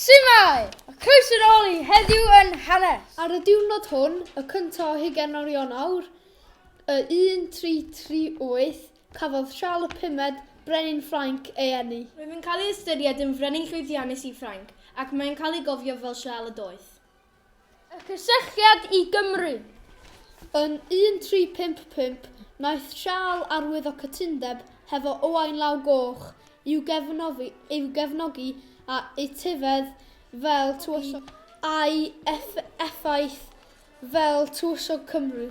Su'mae! A croeso yn ôl i Heddiw yn Hanes! Ar y diwrnod hwn, y cyntaf o hugain o Rionawr, y 1338, cafodd Siarl y Pumed, Brenin Ffrainc, ei eni. Roedd yn cael ei ystyried yn frenin llwyddiannus i Ffrainc, ac mae'n cael ei gofio fel Siarl y Doeth. Y cysylltiad i Gymru. Yn 1355, wnaeth Siarl arwyddo cytundeb hefo Owain Law Goch i'w gefnogi, i'w gefnogi a etifedd fel tywysog, a'i effaith fel tywysog Cymru.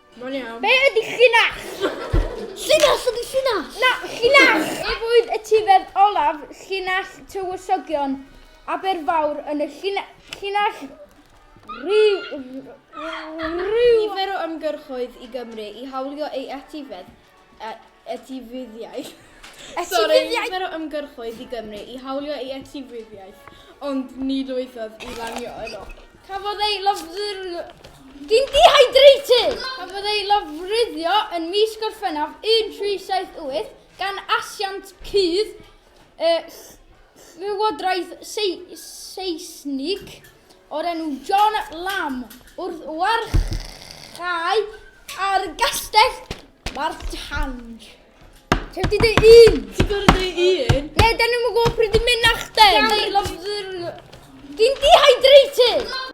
Mae'n iawn. Be ydy llinach? Llinach ydy llinach. Na, llinach! Ef oedd y tifedd olaf llinach tywysogion Aberfawr yn y llinach rhyw... Nifer o ymgyrchoedd i Gymru i hawlio ei etifedd e etifeddiaeth. Etifeddiaeth? Sori, nifer o ymgyrchoedd i Gymru i hawlio ei etifeddiaeth, ond ni lwyddodd i lanio yno. Cafodd ei lofruddio... Dwi'n dehydrated! Cafodd ei lofruddio yn mis Gorffennaf 1378 gan asiant cudd y Llywodraeth Seisnig o'r enw John Lamb wrth warchae ar gastell Martange. Ti'n wedi dweud un? Ti'n gorau dweud un? Ne, dyn nhw'n gwybod pryd i'n mynd nachdyn. Ti'n dehydrated!